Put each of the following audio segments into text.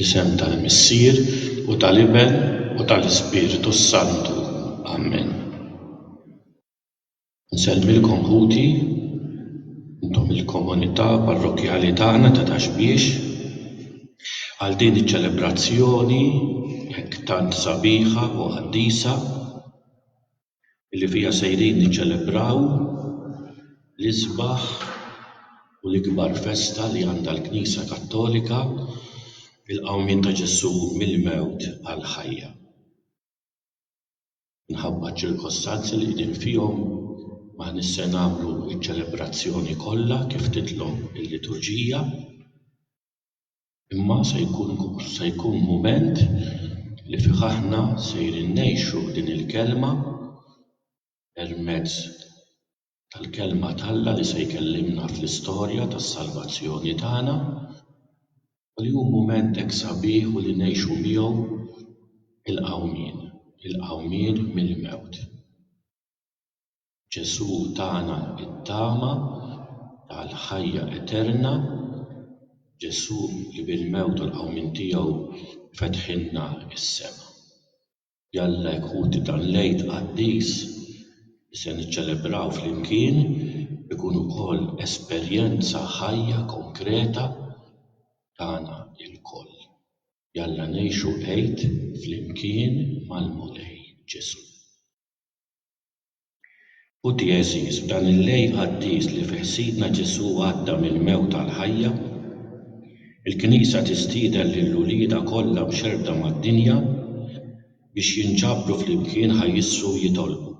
Fl-isem tal-Missier, u tal-Iben, u tal-Ispirtu s-Santu. Amen. Nsellmilkom ħuti, intom il-komunità parrokkjali tagħna ta' Taxbiex, għal din iċ-ċelebrazzjoni hekk tant sabiħa u qaddisa. li fiha sejrin niċċelebraw l-isbaħ u l-ikbar festa li għandha l-Knisja Kattolika, il-qawmien ta' Ġesù mill-mewt għall-ħajja. Minħabba ċ-ċirkostanzi li qegħdin fihom m'aħniex se nagħmlu ċ-ċelebrazzjoni kollha kif titlob il-liturġija. Imma se jkun se jkun mument li fih aħna sejrin ngħixu din il-kelma permezz tal-kelma t'Alla li se jkellimna fl-istorja tas-salvazzjoni tagħna u li hu mument hekk sabiħ u li ngħixu miegħu il-qawmien, il-qawmien mill-mewt. Ġesù tana t-tama tal-ħajja eterna, Ġesù li bil-mewt u l-qawmien tiegħu fetħilna s-sema. Jalla jekk ħuti dan l-Għid qaddis li se niċċelebraw flimkien ikun ukoll esperjenza ħajja konkreta tagħna lkoll. Jalla ngħixu Għid flimkien mal-Mulej Ġesù. Ħuti għeżież, f'dan il-lejl qaddis li fih Sidna Ġesù għadda mill-mewt għall-ħajja, il-Knisja tistieden lil uliedha kollha mxerrda mad-dinja biex jinġabru flimkien ħa jissru jitolbu.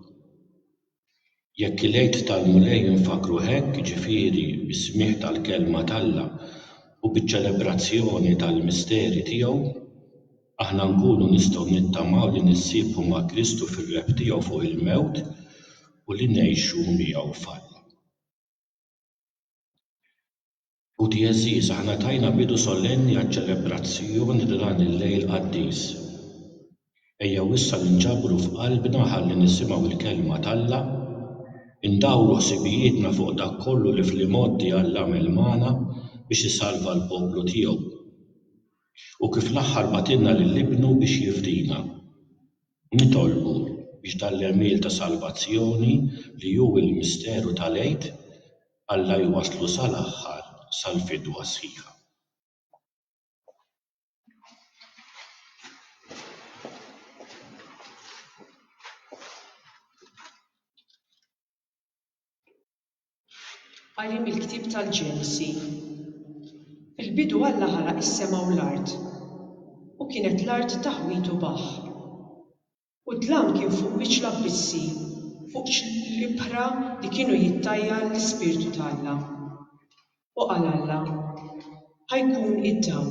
Jekk il-Għid tal-Mulej infakkruh hekk, jiġifieri bis-smigħ tal-Kelma t'Alla u biċ-ċelebrazzjoni tal-misteri tiegħu, Aħna nkunu nistgħu nittamaw li nissieħbu ma' Kristu fir-rebħ tiegħu fuq il-mewt u li ngħixu miegħu f'Alla. Ħuti għeżież, aħna tajna bidu solenni għaċ-ċelebrazzjoni ta' dan il-lejl qaddis. Ejjew issa ninġabru f'qalbna ħalli nisimgħu l-Kelma t'Alla, indawru ħsibijietna fuq dak kollu li fl-imgħoddi Alla għamel magħna biex isalva l-poplu tiegħu. u kif l-aħħar bagħtilna lil Ibnu biex jifdina. Nitolbu biex dan l-għemil ta' salvazzjoni li hu l-misteru tal-Għid Alla jwasslu sal-aħħar sal-fidwa sħiħa. Qari mill-ktieb tal-Ġenesi Fil-bidu Alla ħalaq is-sema u l-art, u kienet l-art taħwit u baħħ. U d-dlam kien fuq wiċċ l-abbissi, fuq l-ibħra li kienu jittajjar l-Ispirtu t'Alla. U qal Alla, Ħa jkun id-dawl,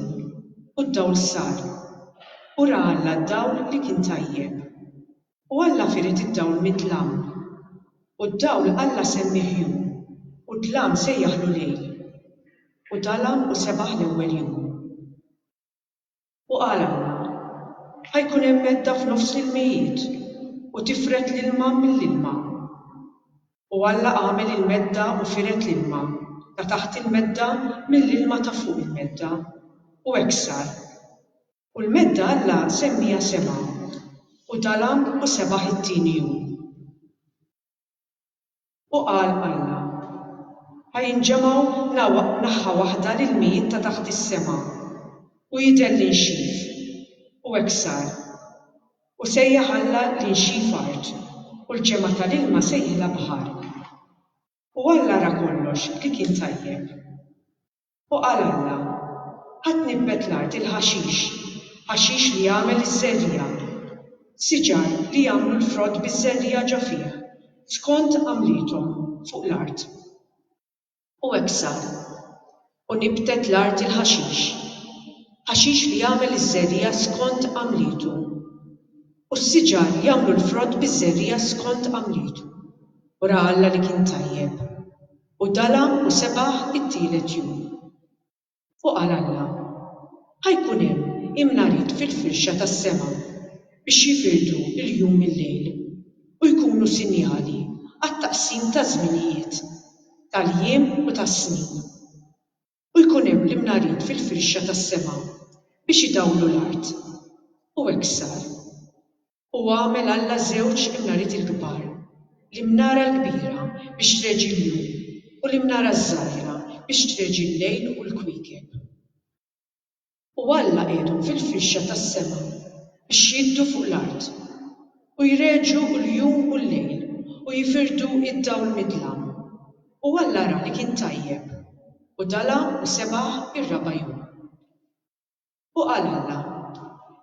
u d-dawl sar. U ra Alla d-dawl li kien tajjeb. U Alla fired id-dawl mid-dlam. U d-dawl Alla semmieh jum, u d-dlam sejjaħlu lejl. U dalgħam u sebaħ l-ewwel jum. U qalilna, Ħa jkun hemm medda f'nofs l-ilmijiet, u tifred l-ilma mill-ilma. U Alla għamel il-medda u fired l-ilma ta' taħt il-medda mill-ilma ta' fuq il-medda, u hekk sar. U l-medda Alla semmiha sema. U dalam u sebaħ it-tieni jum. U qal Alla, Ħa jinġemgħu naħa waħda l-ilmijiet ta' taħt is-sema, u jidher l-inxif. U hekk sar. U sejjaħ Alla l-inxif art, u l-ġemgħa tal-ilma sejħilha baħar. U Alla ra kollox li kien tajjeb. U qal Alla, Ħa tnibbet l-art il-ħaxix, ħaxix li jagħmel iż-żerriegħa, siġar li jagħmlu l-frott biż-żerriegħa ġo fih, skont għamliethom fuq l-art. U hekk sar. U nibbtet l-art il-ħaxix, ħaxix li jagħmel iż-żerriegħa skont għamlietu, u s-siġar li jagħmlu l-frott biż-żerriegħa skont għamlietu. U ra Alla li kien tajjeb. U dala' u sebaħ it-tielet jum. U qal Alla, Ħa jkun hemm imnarid fil-firxa tas-sema biex jifirdu l-jum mil-lejl, u jkunu sinjali għat-taqsim taż-żminijiet, tal-jiem u tas-snin. u jkun hemm l-imnarin fil-firxa tas-sema biex idawlu l-art. U hekk sar. U għamel Alla żewġ imnariti l-kbar, l-imnara l-kbira biex treġi l-jum u l-imnara ż-żgħira biex treġi l-lejl u l-kwiekeb. U Alla qiegħedhom fil-firxa tas-sema biex jiddu fuq l-art, u jreġġu l-jum u l-lejl, u jifirdu d-dawl mid-dlam. U Alla ra li kien tajjeb, u dala' u sebaħ ir-raba' jum. U qal Alla,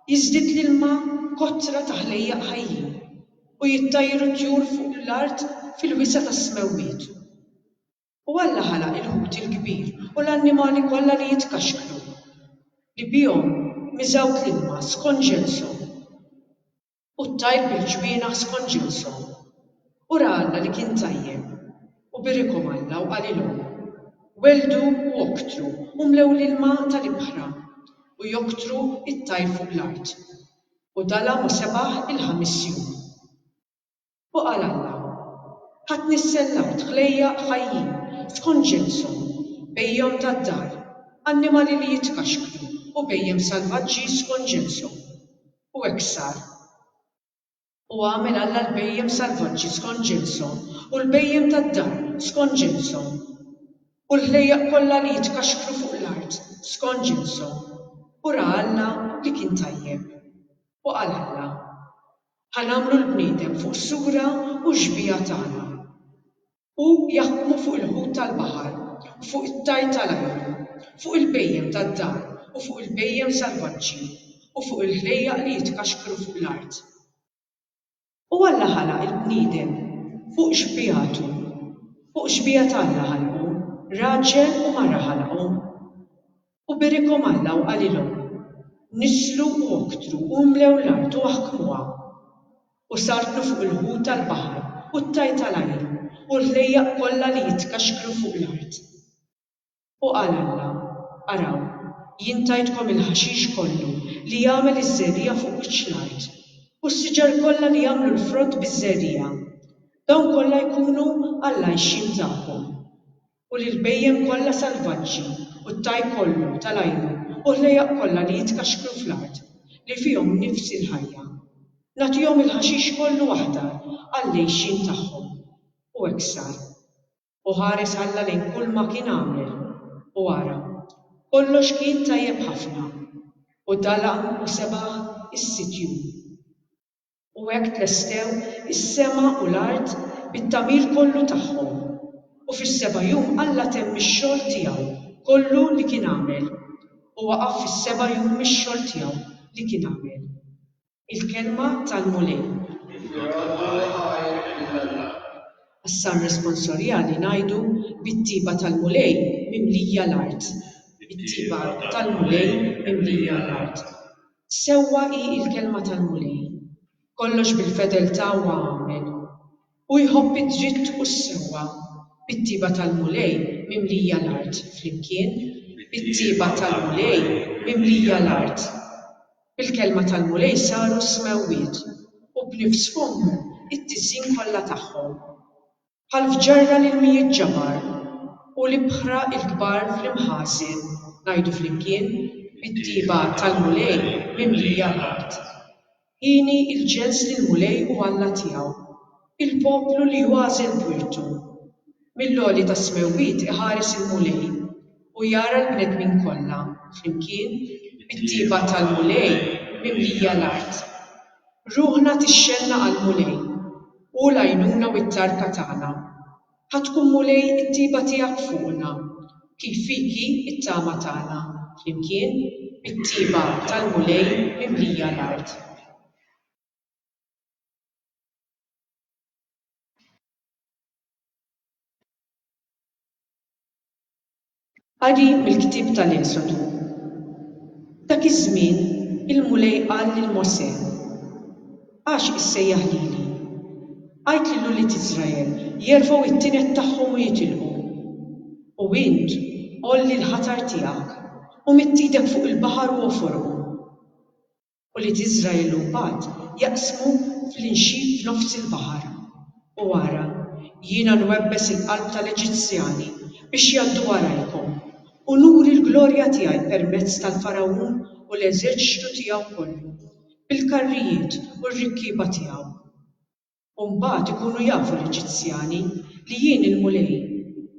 Jiżdied l-ilma kotra ta' ħlejjaq ħajjin, u jittajru t-tjur fuq l-art fil-wisa' tas-smewwiet. U Alla ħalaq il-ħut il-kbir u l-annimali kollha li jitkaxkru, li bihom miżgħut l-ilma skont ġenshom, u t-tajr bil-ġwienaħ skont ġenshom. U ra Alla li kien tajjeb. U birikhom Alla u qalilhom, Welldu u oktru, u mlew l-ilma tal-ibħra, u joktru t-tajr fuq l-art. U dalgħa ma' sebgħ il-ħames jum. U qal Alla, Ħadni s-sellawt, ħlejjaq ħajjin, tkun ġinshom, bhejjem tad-dar, annimali li jitkaxkru u bhejjem salvaġġi skont ġinshom. U hekk sar. U għamel Alla l-bhejjem salvaġġi skont ġinshom u l-bhejjem tad-dar skont ġinshom, u l-ħlejjaq kollha li jitkaxkru fuq l-art skont ġinshom, u ra Alla li kien tajjeb. U qal Alla, Ħa nagħmlu l-bniedem fuq sura u xbieha tagħna. Hu jaħkmu fuq il-ħut tal-baħar u fuq it-tajr tal-ajru, fuq il-bhejjem tad-dar u fuq il-bhejjem salvaġġi u fuq il-ħlejjaq li jitkaxkru fuq l-art. U Alla ħalaq il-bniedem fuq xbieħtu, fuq xbiehat Alla ħalqu, raġel u mara ħalaqhom. U birikhom Alla u qalilhom, Niżlu u oktru u imlew l-art u aħkmuha. U sartlu fuq il-ħut tal-baħar u t-tajr tal-ajr u l-ħlejjaq kollha li jitkaxkru fuq l-art. U qal Alla, Araw, jien tajtkom il-ħaxix kollu li jagħmel iż-żerriegħa fuq wiċċ l-art, u s-siġar kollha li jagħmlu l-frott biż-żerriegħa. Dawn kollha jkunu għall-għajxien tagħkom. u lill-bhejjem kollha salvaġġi u t-taj kollu tal-għajru u ħlejjaq kollha li jitkaxkru fl-art, li fihom nifsi l-ħajja. Nagħtihom il-ħaxix kollu aħdar għall-għixien tagħhom. U hekk sar. U ħares Alla lejn kulma kien għamel, u ara, kollox kien tajjeb ħafna. U dalaq u sebaħ is-sitt jum. U hekk tlestew is-sema u l-art bit-tagħmir kollu tagħhom. U fis-seba' jum Alla temm ix-xogħol tiegħu kollu li kien għamel, u waqaf fis-seba' jum mix-xogħol tiegħu li kien għamel. Il-Kelma tal-Mulej. Għas-Salm Responsorjali ngħidu, Bit-tjieba tal-Mulej mimlija l-art. Bit-tjieba tal-Mulej mimlija l-art. Sewwa hi l-kelma tal-Mulej, Kollox bil-fedeltà huwa għamel. Hu jħobb id-dritt u s-sewwa, Bit-tjieba tal-Mulej mimlija l-art Flimkien, Bit-tjieba tal-Mulej mimlija l-art. Bil-kelma tal-Mulej saru s-smewwiet, U b'nifs fommu t-tiżjin kollha tagħhom. bħal f'ġarra l-ilmijiet ġabar u l-ibħra l-kbar fl-imħażen ngħidu flimkien mit-tjieba tal-Mulej mimlija l-art. Hieni l-ġens lill-Mulej u Alla tiegħu, il-poplu li hu għażel b'wirtu. Mill-għoli tas-smewwiet iħares il-Mulej u jara l-bnedmin kollha flimkien mit-tjieba tal-Mulej mimlija l-art. Ruħna tixxenna għall-Mulej, hu l-għajnuna u t-tarka tagħna. Ħa tkun Mulej it-tjieba tiegħek fuqna, kif fik hi t-tama tagħna, flimkien bit-tjieba tal-Mulej mimlija l-art. Qari mill-ktieb tal-Esodu F'dak iż-żmien il-Mulej qal lil Mosè, Għax issejjaħ lili? Għid lil ulied Iżrael jerfgħu t-tined tagħhom u jitilqu. U int għolli l-ħatar tiegħek u midd idek fuq il-baħar u ogħforhom. Ulied Iżrael imbagħad jaqsmu fl-inxit f'nofs il-baħar. U ara, jiena nwebbes il-qalb tal-Eġizzjani biex jgħaddu warajkom, u nuri l-glorja tiegħi permezz tal-Fargħun u l-eżerċitu tiegħu kollu, bil-karrijiet u r-rikkieba tiegħu. U mbagħad ikunu jafu l-Eġizzjani li jien il-Mulej,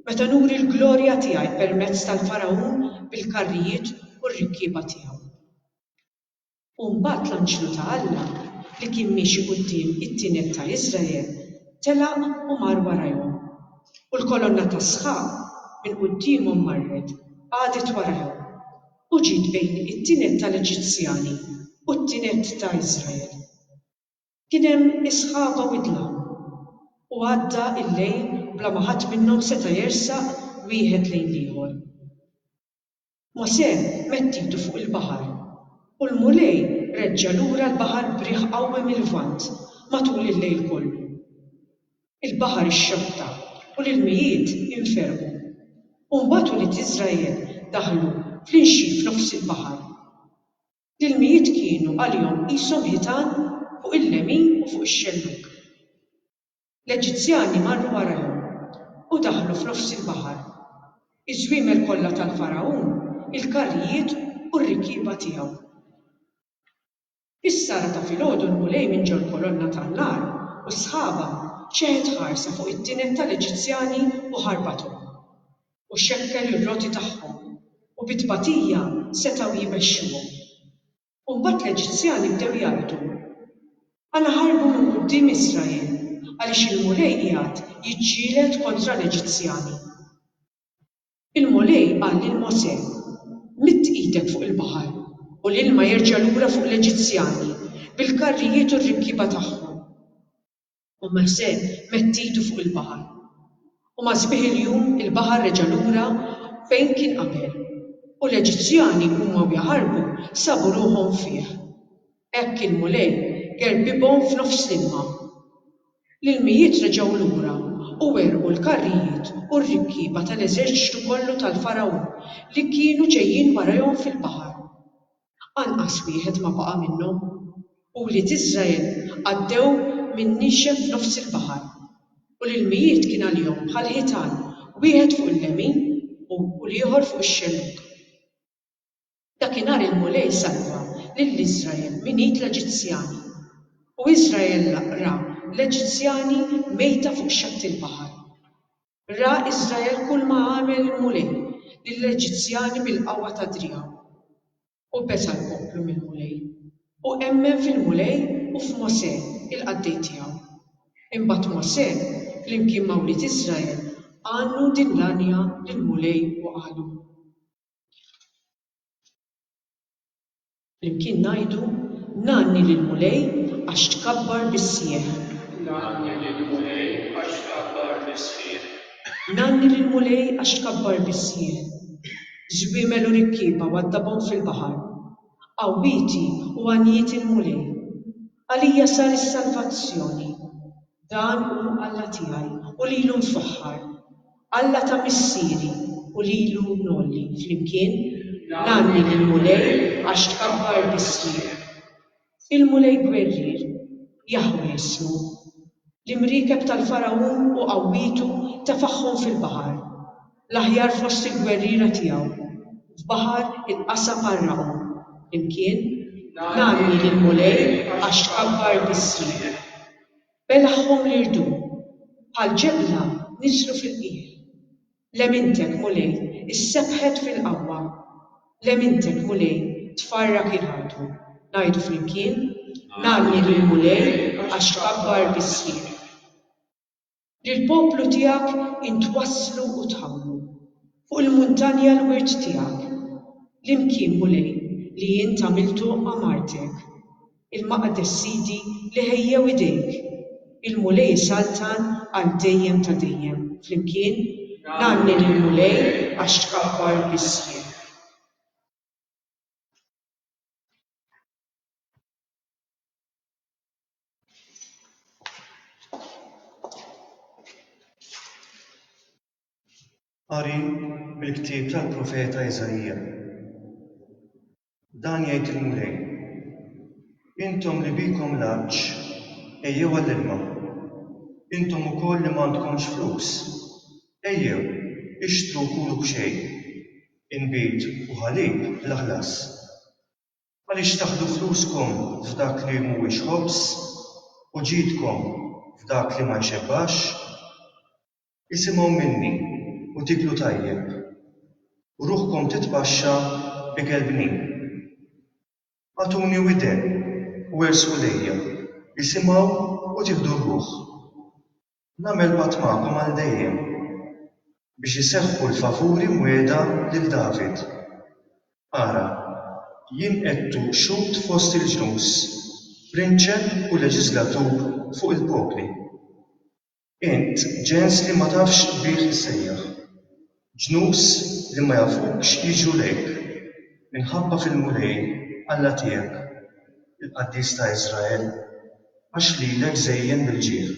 meta nuri l-glorja tiegħi permezz tal-Fargħun bil-karrijiet u r-rikkieba tiegħu. U mbagħad l-anġlu ta' Alla, li kien miexi quddiem it-tined ta' Iżrael, telaq u mar warajhom. U l-kolonna tas-sħab minn quddiemhom marret, qagħdet warajhom, u ġiet bejn it-tined tal-Eġizzjani u t-tined ta' Iżrael. Kien hemm is-sħaba widla, u għadda l-lejl bla ma ħadd minnhom seta' jersaq wieħed lejn l-ieħor. Mosè mett idu fuq il-baħar, u l-Mulej reġġa' lura l-baħar b'riħ qawwi mil-Lvant matul il-lejl kollu. Il-baħar ixxotta u l-ilmijiet inferqu, u mbagħad ulied Iżrael daħlu fl-inxi f'nofs il-baħar. L-ilmijiet kienu għalihom qishom ħitan fuq il-lemin u fuq ix-xellug. L-Eġizzjani marru warajhom u daħlu f'nofs il-baħar. Iż-żwiemel kollha tal-Fargħun, il-karrijiet u r-rikkieba tiegħu. Fis-sara ta' filgħodu l-Mulej minn ġol-kolonna tan-nar u sħabha xeħet ħarsa fuq it-tined tal-Eġizzjani u ħarbathom. u xekkel ir-roti tagħhom, u bi tbatija setgħu jmexxuhom. U mbagħad l-Eġizzjani bdew jgħidu, Għala ħarbu minn quddiem Israel, għaliex il-Mulej qiegħed jiġġieled kontra l-Eġizzjani? Il-Mulej qal lil Mosè, Midd idek fuq il-baħar, u l-ilma jerġa' lura fuq l-Eġizzjani, bil-karrijiet u r-rikkieba tagħhom. U Mosè mett idu fuq il-baħar, u ma' sbieħ il-jum il-baħar reġa' lura fejn kien qabel, u l-Eġizzjani huma u jaħarbu sabu ruħhom fih. Hekk il-Mulej gerrbibhom f'nofs l-ilma. L-ilmijiet reġgħu lura, u għerqu l-karrijiet u r-rikkieba tal-eżerċtu kollu tal-Fargħun li kienu ġejjin warajhom fil-baħar. anqas wieħed ma baqa' minnhom, u wlied Israel għaddew minn nixef f'nofs il-baħar, u l-ilmijiet kien għalihom bħal ħitan, wieħed fuq il-lemin u l-ieħor fuq ix-xellug. Dakinhar il-Mulej salva lil Israel minn id l-Eġizzjani, u Israel ra l-Eġizzjani mejta fuq xatt il-baħar. Ra Israel kulma għamel il-Mulej lill-Eġizzjani bil-qawwa ta' driegħu, u besa l-poplu mill-Mulej, u emmen fil-Mulej u f'Mosè, il-qaddej tiegħu. Imbagħad Mosè, flimkien ma' wlied Israel, għannu din l-għanja lill-Mulej u qalu. Flimkien ngħidu, Ngħanni lill-Mulej għax tkabbar bis-sħiħ. Ngħanni lill-Mulej għax tkabbar bis-sħiħ. Ngħanni lill-Mulej għax tkabbar bis-sħiħ. Żwiemel u rikkieba waddabhom fil-baħar. Qawwieti u għanjieti l-Mulej. Għalija sar is-salvazzjoni. Dan hu Alla tiegħi, u lilu nfaħħar, Alla ta' missieri, u lilu ngħolli. Flimkien, Ngħanni lill-Mulej għax tkabbar bismi. Il-Mulej gwerrier, Jaħweh ismu. L-imriekeb tal-Fargħun u qawwietu tefagħhom fil-baħar. L-aħjar fost il-gwerriera tiegħu, f'baħar il-qasab għarraqhom, imkien, nagħmli lill-Mulej għax tkabbar bismi. Belagħhom l-irdum, bħal ġebla niżlu fil-qiegħ. Lemintek, Mulej, issebħet fil-qawwa. Lemintek, Mulej, tfarrak il-ħadu. Ngħidu flimkien, Nagħmli lill-Mulej għax tkabbar bismi. Lill-poplu tiegħek int wasslu u tħammru, fuq il-muntanja l-wirt tiegħek, l-imkien Mulej li int għamiltu għamartek, il-maqdes Sidi li ħejjew idejk, il-Mulej isaltan għal dejjem ta' dejjem. Flimkien, Ngħanni lill-Mulej għax tkabbar biss jien. Qari mill-ktieb tal-profeta Iżaija. Dan jgħid il-Mulej, Intom li bikom l-għatx, ejjew għall-ilma. Intom ukoll li m'għandkomx flus, ejjew, ixtru u kulu b'xejn, inbid u ħalib bla ħlas. Għaliex taħdu fluskom f'dak li mhuwiex ħobż, u ġidkom f'dak li ma jxebbax? Isimgħu minni u tieklu tajjeb, u ruħkom titpaxxa ikel bnin. Agħtuni widen u ersqu lejja, isimgħu u tieħdu r-ruħ. Nagħmel patt magħkom għal dejjem, biex iseħħu l-favuri mwiegħda lil David. Ara, jien għedtu xhud fost il-ġnus, prinċep u leġiżlatur fuq il-popli. Int ġens li ma tafx qbigħ isejjaħ. Ġnus li ma jafukx jiġru lejk. Minħabba fil-Mulej, Alla tiegħek, il-Qaddis ta' Israel, għax lilek żejjen bil-ġieħ.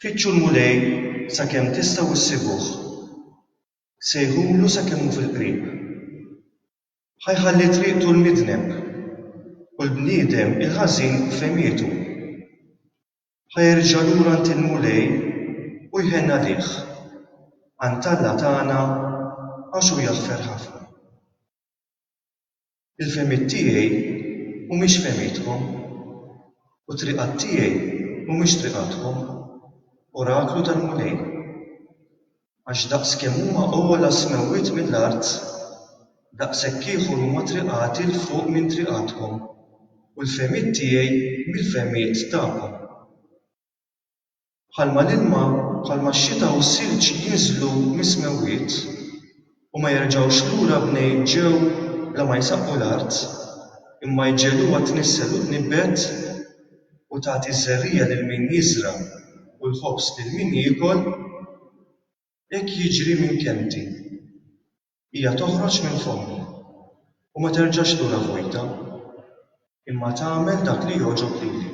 Fittxu l-Mulej sakemm tistgħu ssibuh. Sejħulu sakemm hu fil-qrib. Ħa jħalli triqtu l-midneb, u l-bniedem il-ħażin f'fehmietu. Ħa jerġa' lura għand il-Mulej u jħenn għalih, għand Alla tagħna għax hu jaħfer ħafna. Il-fehmiet tiegħi mhumiex fehmiethom, u t-triqat tiegħi mhumiex triqathom. Oraklu tal-Mulej. Għax daqs kemm huma ogħla s-smewwiet mill-art, daqshekk ieħor huma triqati 'l fuq minn triqathom, u l-fehmiet tiegħi mill-fehmiet tagħkom. Bħalma l-ilma, bħalma x-xita u s-silġ jinżlu mis-smewwiet, u ma jerġgħux lura mnejn ġew bla ma jsaqqu l-art, imma jġegħluha tnissel u tnibbet, u tagħti ż-żerriegħa lil min jiżra' u l-ħobż lil min jiekol, hekk jiġri minn kelmti. Hija toħroġ minn fommi, u ma terġax lura vojta, imma tagħmel dak li jogħġob lili,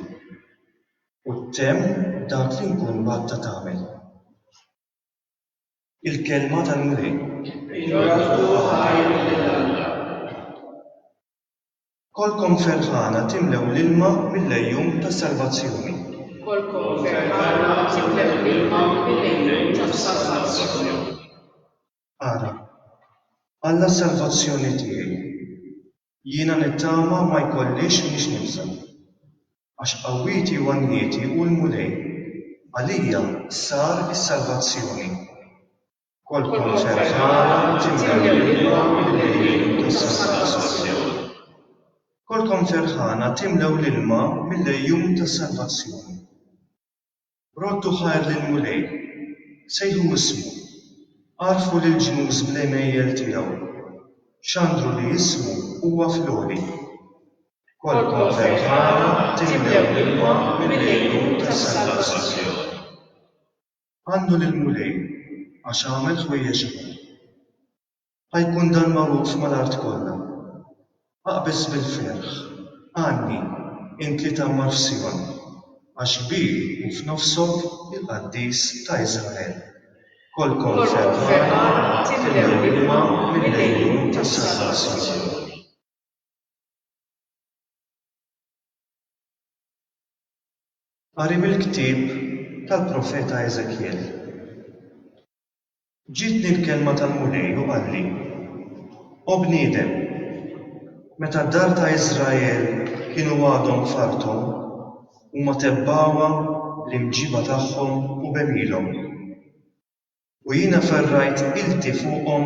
u ttemm dak li nkun bagħtha tagħmel. Il-Kelma tal-Mulej. Ingrazzjaw ħajr lil Alla. Kollkom ferħana timlew l-ilma mill-għejun tas-salvazzjoni. Kollkom ferħana timlew l-ilma mill-għejun tas-salvazzjoni. Ara, Alla s-salvazzjoni tiegħi. Jiena nittama ma jkollix mhix nibża'. Għax qawwieti u għanjieti hu l-Mulej, għalija sar is-salvazzjoni. Kolkom ferħana tinja l-ilma mill-għejun tas-salvazzjoni. Kolkom ferħana timlew l-ilma mill-għejun tas-salvazzjoni. Roddu ħajr lill-Mulej, sejħu ismu, għarrfu lill-ġnus bl-għemejjel tiegħu, xandru li ismu huwa fl-għoli. B'kolkom ferħana timlew l-ilma mill-għejun tas-salvazzjoni. Għannu lill-Mulej, għax għamel ħwejjeġ kbar. A jkun dan magħruf mal-art kollha. Aqbeż bil-ferħ, għanni, int li tgħammar f'Sijon, għax kbir hu f'nofsok il-Qaddis ta' Israel. Kolkom ferħana timlew l-ilma mill-għejun tas-salvazzjoni. Qari mill-ktieb tal-profeta Eżekjel. Ġietni l-kelma tal-Mulej u qalli, O bniedem, meta d-dar ta' Israel kienu għadhom f'arthom, huma tebbgħuha bl-imġiba tagħhom u b'għemilhom. U jiena ferrajt ilti fuqhom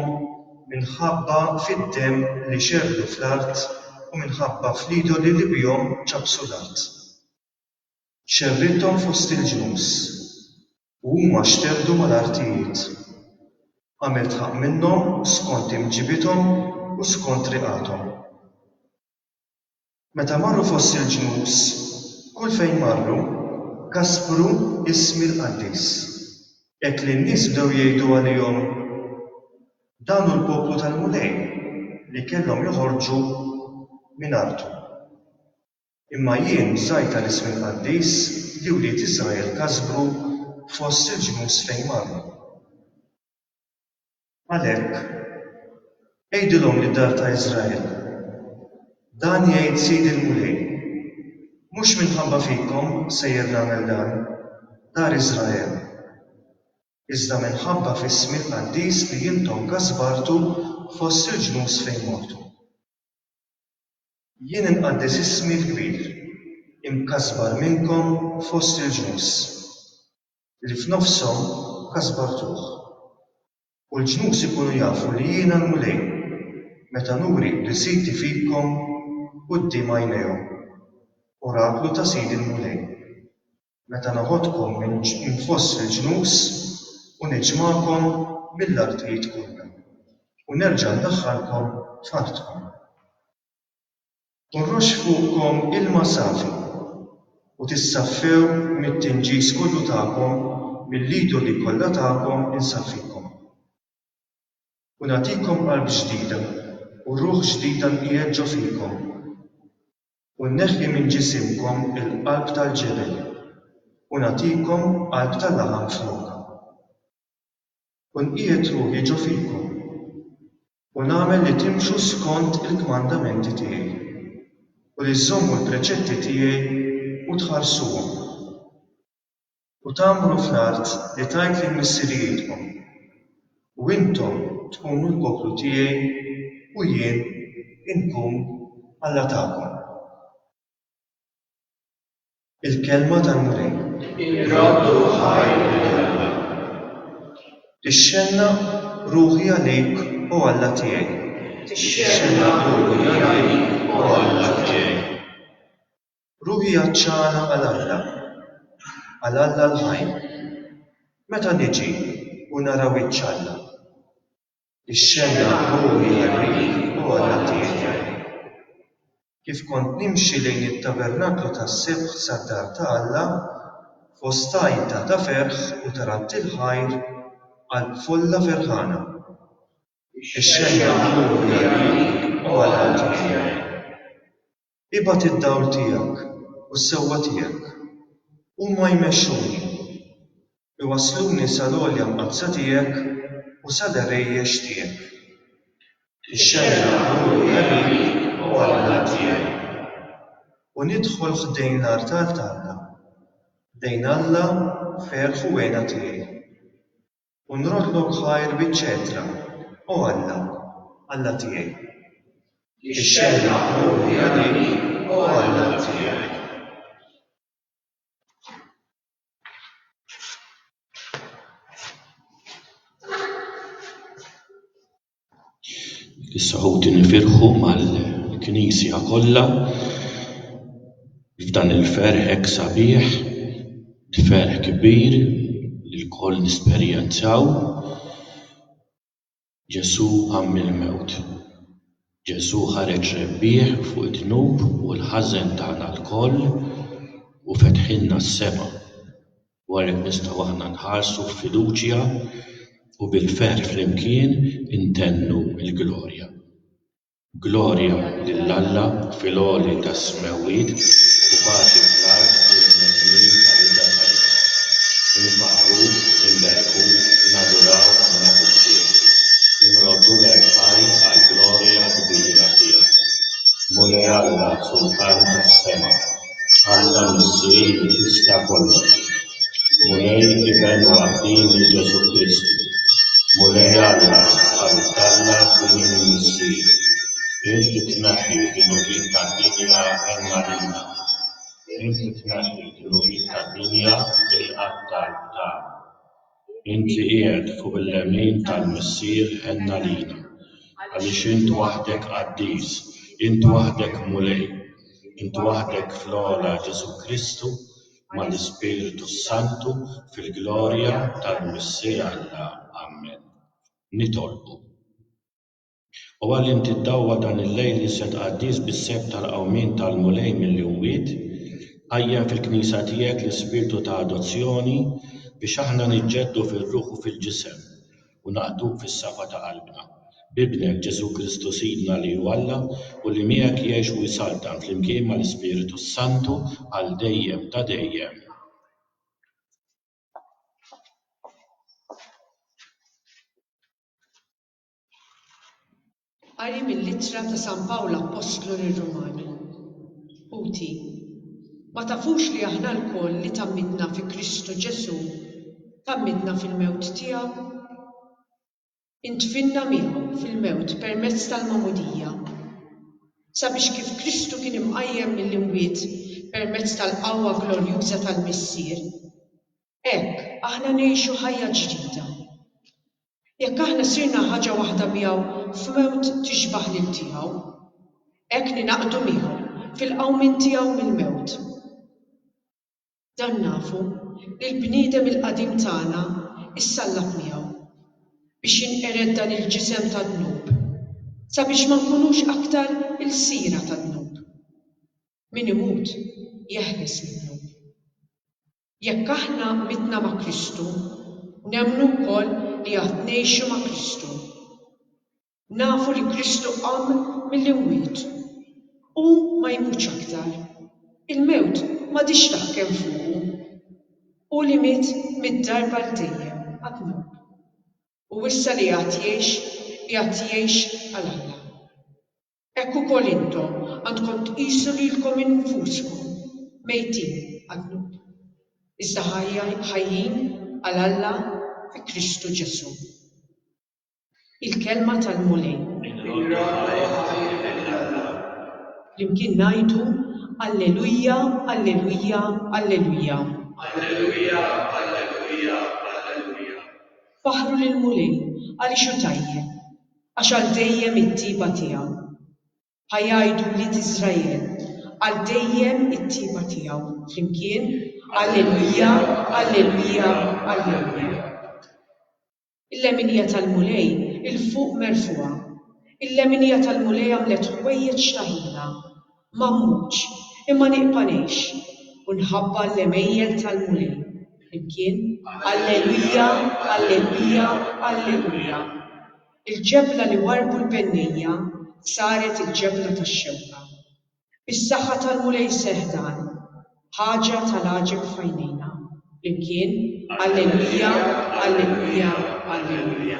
minħabba fid-demm li xerrdu fl-art u minħabba fl-idoli li bihom ċappsu l-art. Xerridthom fost il-ġnus. U huma xteddu mal-artijiet. Għamilt ħaqq minnhom skont imġibiethom u skont riqathom. Meta marru fost il-ġnus, kull fejn marru, kaspru ismi l-qaddis. Hekk li n-nies bdew jgħidu għalihom, Dan hu l-poplu tal-Mulej li kellhom joħorġu minn artu. Imma jien żgħid għal ismi l-qaddis li wlied Israel kasbru fost il-ġnus fejn marru. Għalhekk, għidilhom lid-dar ta' Israel, 'Dan jgħid Sidi l-Mulej, Mhux minħabba fikom sejjer nagħmel dan, dar Israel, iżda minħabba f'ismi l-qaddis li intom kasbartu fost il-ġnus fejn mortu. Jien inqaddes ismi l-kbir, imkasbar minnkom fost il-ġnus, li f'nofshom kasbartuh. U l-ġnus ikunu jafu li jiena l-Mulej, meta nuri qdisiti fikom quddiem għajnejhom, oraklu ta' Sidi l-Mulej. Meta noħodkom minn fost il-ġnus u niġmagħkom mill-artijiet kollha, u nerġa' ndaħħalkom f'artkom. U nroxx fuqkom ilma safi, u tissaffew mit-tinġis kollu tagħkom mill-idoli kollha tagħkom insaffikom. U nagħtikom qalb ġdida u ruħ ġdida nqiegħed ġo fikom. U nneħħi minn ġisimkom il-qalb tal-ġebel, u nagħtikom qalb ta' laħam flokha. U nqiegħed ruħi ġo fikom, u nagħmel li timxu skont il-kmandamenti tiegħi, u li żżommu l-preċetti tiegħi u tħarsuhom, u tgħammru fl-art li tajt lil missirijietkom, u intom tkunu l-poplu tiegħi u jien inkun Alla tagħkom. Il-kelma tal-Mulej. Irraddu ħaj il-kelma. Tixxennaq ruħi għalik, O Alla tiegħi. Tixxennaq ruħi għalik, O Alla tiegħi. Ruħi għatxana għal Alla, għal Alla l-ħaj. Meta niġi u nara wiċċ Alla. Ixxennaq ruħi għar-riħ ogħla tiegħu. Kif kont nimxi lejn it-tabernaklu tas-sebħ sad-dar ta' Alla, fost għajta ta' ferħ u taranti l-ħajr, qalb folla ferħana. Ixxennaq ruħi għar-riħ ogħla tiegħu. Ibgħat id-dawl tiegħek u s-sewwa tiegħek. Huma jmexxuni. Iwassluni sal-għolja mqaddsa tiegħek u sal-għerejjex tiegħek. Ixxerraq ruħi għalik, O Alla tiegħi. U nidħol ħdejn l-artal t'Alla, ħdejn Alla ferħ u għena tiegħi. U nroddlok ħajr biċ-ċetra, O Alla, Alla tiegħi. Ixxellaq ruħi għalik, O Alla tiegħi. Is-Saħuti nifirħu mal-Knisja kollha f'dan il-ferħ hekk sabiħ, ferħ kbir li lkoll nesperjenzaw. Ġesù qam mill-mewt. Ġesù ħareġ rebbieħ fuq id-dnub u l-ħażen tagħna lkoll u fetħilna s-sema. u għalhekk nistgħu aħna nħarsu b'fiduċja u bil-ferħ flimkien intennu l-glorja. Glorja lil Alla fil-għoli tas-smewwiet u paċi fl-art lill-bnedmin ħarija tajba. Infaħħru, inberrku, naduraw u nagħtu ħsieb. Inroddu l-Għerf Ħaj għall-glorja kbira tiegħu. Mulej Alla, Sultan tas-sema, għandha missir li tista' kollox, Mulej Iben waħdieni Ġesù Kristu, Mulej Alla għal Alla b'din il-missier, Inti tneħħi d-dnubiet tad-dinja hemm għalina, Inti tneħħi d-dnubiet tad-dinja bil-qattal ta'. Inti qiegħed fuq il-lemin tal-Missier ħenn għalina, għaliex int waħdek qaddis, int waħdek Mulej, int waħdek fl-ogħla Ġesù Kristu mal-Ispirtu s-Santu fil-glorja tal-Missier Alla. Ammen. Nitolbu. O Alla, int iddawwa dan il-lejl iżjed qaddis bis-sejf tal-qawmien tal-Mulej mill-imwiet, qajjem fil-Knisja tiegħek l-Ispirtu ta' adozzjoni biex aħna niġġeddu fir-ruħ u fil-ġisem u naqduk fis-safa ta' qalbna. B'Ibnek, Ġesù Kristu Sidna li hu Alla u li miegħek jgħix u jsaltan flimkien mal-Ispirtu s-Santu għal dejjem ta' dejjem. Qari mill-Ittra ta' San Pawl Appostlu lir-Rumani Ħuti, ma tafux li aħna lkoll li tgħammidna fi Kristu Ġesù tgħammidna fil-mewt tiegħu? Indfinna miegħu fil-mewt permezz tal-magħmudija, sabiex kif Kristu kien imqajjem mill-imwiet permezz tal-qawwa glorjuża tal-Missier, Hekk, aħna ngħixu ħajja ġdida. Jekk aħna sirna ħaġa waħda miegħu f'mewt tixbah lil tiegħu, hekk ningħaqdu miegħu fil-qawmien tiegħu mill-mewt. Dan nafu, li l-bniedem il-qadim tagħna issallab miegħu, biex jinqered dan il-ġisem tad-dnub, sabiex ma nkunux aktar ilsiera tad-dnub. Min imut jeħles mid-dnub. Jekk aħna mitna ma' Kristu, nemmnu wkoll li għad ngħixu ma' Kristu. Nafu li Kristu qam mill-imwiet. Hu ma jmutx aktar. Il-mewt m'għadhiex taħkem fuqu. Hu li miet mitt darba għal dejjem għad mut. U issa li għad jgħix, igħad jgħix għal Alla. Hekk ukoll intom għandkom tqisu lilkom infuskom mejtin għad-dnub, iżda ħajjin għal Alla fi Kristu Ġesù. Il-Kelma tal-Mulej. Flimkien ngħidu, Alleluja, Alleluja, Alleluja. Alleluja, Alleluja, Alleluja. Faħħru lill-Mulej, għaliex hu tajjeb. Għax għal dejjem it-tjieba tiegħu. Ħa jgħidu wlied Israel, Għal dejjem it-tjieba tiegħu. Flimkien, Alleluja, alleluja, alleluja. Il-leminija tal-Mulej 'il fuq merfugħa. Il-leminija tal-Mulej għamlet ħwejjeġ ta' ħila. Ma mmutx, imma nibqa' ngħix, u nħabba' l-għemejjel tal-Mulej. Flimkien, Alleluja, alleluja, alleluja. Il-ġebla li warrbu l-bennejja saret il-ġebla tax-xewka. Bis-saħħa tal-Mulej seħħ dan. Ħaġa tal-għaġeb f'għajnejna. Flimkien, Alleluja, alleluja, alleluja.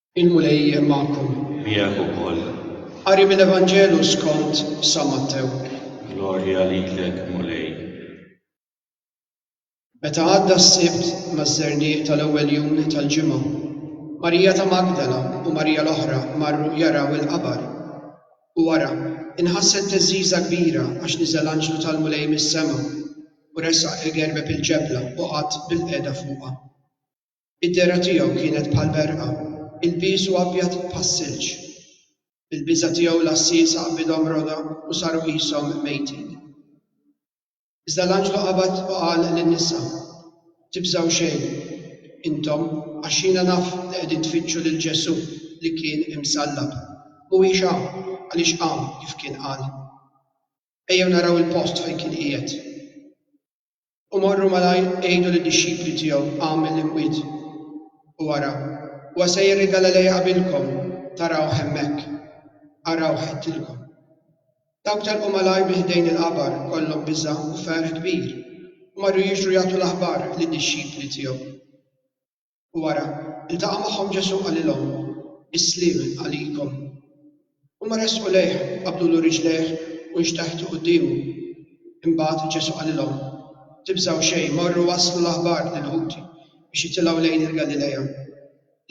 Il-Mulej magħkom. Miegħek ukoll. Qari mill-Evanġelu skont San Mattew. Glorja lilek, Mulej. Meta għadda s-Sibt maż-żerniq tal-ewwel jum tal-ġimgħa, Marija ta' Magdala u Marija l-oħra marru jaraw il-qabar. U wara, inħasset theżżiża kbira għax niżel anġlu tal-Mulej mis-sema u resaq il-gerbeb il-ġebla u qagħad bilqiegħda fuqha. Id-dehra tiegħu kienet bħal berqa, ilbiesu abjad bħas-silġ. Bil-biża' tiegħu l-għassiesa qbidhom roda u saru qishom mejtin. Iżda l-anġlu qabad u qal lin-nisa, Tibżgħu xejn, intom, għax jiena naf li qegħdin tfittxu lil Ġesù li kien imsallab. Mhuwiex hawn, għaliex qam kif kien qal. Ejjew naraw il-post fejn kien qiegħed. U morru malajr għidu lid-dixxipli tiegħu, Għamel l-imwiet, u ara, huwa sejjer il-Galilea qabilkom, tarawh hemmhekk. Arawh għedtilkom. Dawk telqu malajr minn ħdejn il-qabar, kollhom biża' u ferħ kbir, u marru jiġru jagħtu l-aħbar lid-dixxipli tiegħu. u wara ltaqa' magħhom Ġesù qalilhom, Is-sliem għalikom. Huma resqu lejh, qabdulu riġlejh u nxteħtu quddiemu. Imbagħad Ġesù qalilhom, Tibżgħu xejn, morru wasslu l-aħbar lil-ħuti biex jitilgħu lejn il-Galilea,